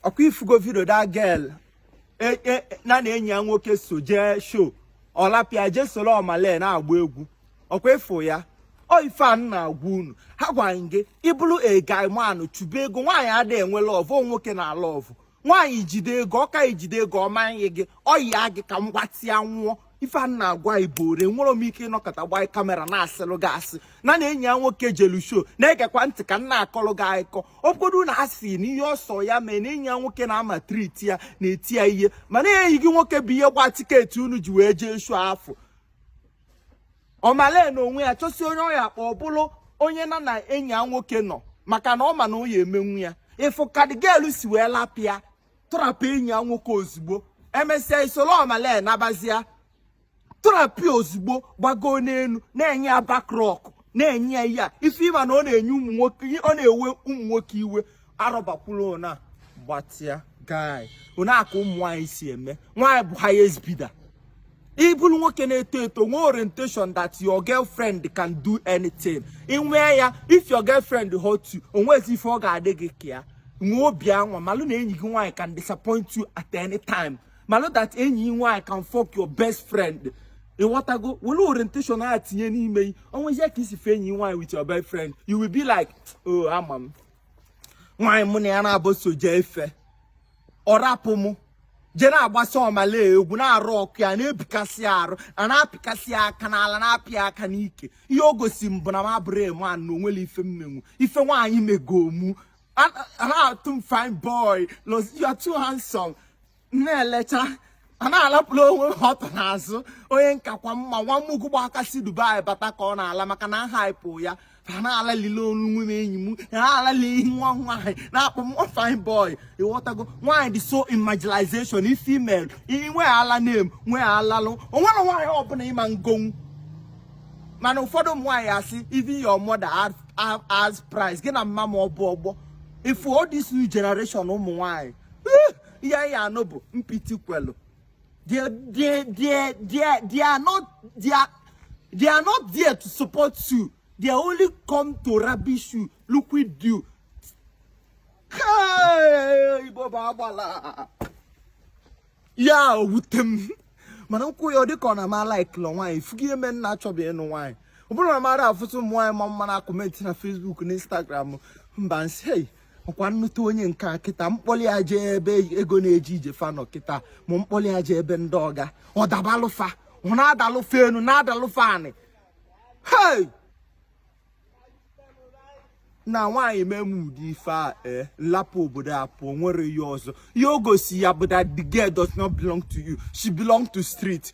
ọkwa ifugo video that girl e, e, na na enyi ya nwoke so jee show ọ lapụ ya jee soro Omah Lay na-agba egwu ọkwa ị fụ ya ọ ife a na-agwa unu ha gwara gị ị bụrụ a guy man chụba ego nwaanyị adịghị enwe love nwoke na-alove nwaanyị jide ego ọ ka i jide ego ọ ma ayị gị ọ yịa gị ka m gbatịa nwụọ ife a na-agwa igbo ore nwere m ike ịnọkọta gbaa camera na-asịlụ gị asị na na enyi ya nwoke jelu show na-egekwa ntị ka m na-akọlụ gị akụkọ obodo na asị na ihe ọsọ ya mee na enyi ya nwoke na-amaltreat ya na-eti ya ihe mana enyi gị nwoke bụ ihe gba ticket unu ji wee jee show afụ Omah Lay na onwe ya chọsi onye ọ ya-akpọ ọ bụrụ onye na na enyi ya nwoke nọ maka na ọ ma na o ya emenwu ya ị fụ ka the girl si wee lapụ ya tụrapụ enyi ya nwoke ozugbo e mesịa i soro Omah Lay nabazia tụrapụ ozugbo gbagoo n'elu na-enye ya back rock na-enye ya ihe a ife ị ma na ọ na-enye ụmụ nwoke ọ na-ewe ụmụ nwoke iwe arọbakwula ona gbatịa guy ona aka ụmụ nwaanyị si eme nwaanyị bụ highest bidder ị bụrụ nwoke na-eto eto nwee orientation that your girlfriend can do anything i nwee ya if your girlfriend hurt you o nwezi ife ọ ga-adị gị ka ya nwee obi anwa malụ na enyi gị nwaanyị can disappoint you at any time malụ that enyi gị nwaanyị can fuck your best friend ịghọtago were orientation a tinye n'ime gị o nwezie ka i si fụ enyi nwaanyị with your best friend you will be like oh ama m nwaanyị mụ na ya nabọ so jee ife ọ rapụ mụ je na-agbasa Omah Lay egwu n'arụ ọkụ ya na-ebikasị arụ a na-apịkasị aka n'ala na-apị ya aka n'ike ihe o gosi m bụ na m abụrụ a man na o nwere ife m menwu ife nwaanyị mego mụ na-atụ m fine boy you are too handsome na-elecha a na-alapụrụ onwe ha ọtụ n'azụ onye m kakwa mma nwa mugu gba aka si Dubai bata ka ọ na-ala maka na ha hype ya ha na-alalile onwe m enyi m ha na-alali ihe nwa nwaanyị na-akpọ m fine boy ịghọtago nwaanyị dị so in marginalization ife imel inwe ala name nwee alalụ o nwere nwaanyị ọbụla ị ma egonwu mana ụfọdụ ụmụ nwaanyị asị even your mother has price gị na mama m ọ bụ ọgbọ ị fụ all this new generation ụmụ nwaanyị ihe anyị anụ bụ mpiti kwelu They are not there to support you. They only come to rubbish you, look with you. Hey, Baba Bala. Yeah, with them. mana m kwuo ya ọ dịka ọ na m alikelọ nwaanyị fugo ihe mee m na-achọ bịa ịnụ nwaanyị ọ bụrụ na mara afụtụ ụmụ nwaanyị ma mma na comment na Facebook na Instagram mba nsị ọkwa m nụta onye nke a kịta m kpọli ya je ebe ego na-eji ije fa nọ kịta ma m kpọli ya je ebe ndị ọga ọ dabalụ fa ọ na-adalụ fa enu na-adalụ fa anị hei na nwaanyị mee m ụdị ife a ee eh, lapụ obodo a pụọ nwere ya ọzọ ya o gosi ya bụ that the girl does not belong to you she belong to street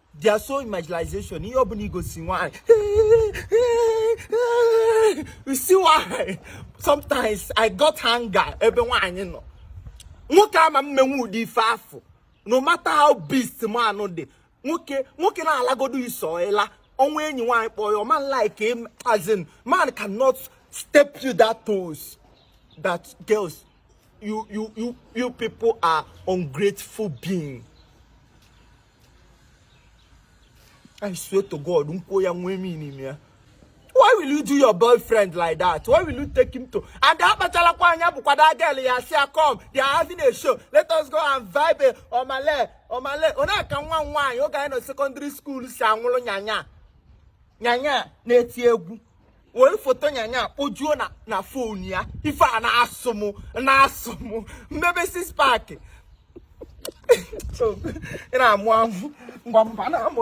they are so marginalization ihe ọbụna i gosi nwanyị you see why sometimes i got anger ebe nwaanyị nọ nwoke ama emenwu ụdị ife afụ no matter how beast man dị nwoke na-alagodo iso ela o nwee enyi nwaanyị kpọọ ya man like him as in man cannot step to that toes that girls you you you you people are ungrateful being I swear to God, m kwuo ya nwee m n'ime ya. Why will you do your boyfriend like that? Why will you take him to? And akpachalakwa anya bụkwa that girl ya sị ya come. They are having a show. Let us go and vibe Omah Lay Omah Lay. Ọ nọ ka nwa nwaanyị oge anyị nọ secondary school si anwụlụ Iyanya Iyanya na-eti egwu. were foto Iyanya kpojuo na phone ya ife a na-asị m na-asị m mebe six pack ị na-amụ amụ ngwa mba na-amụ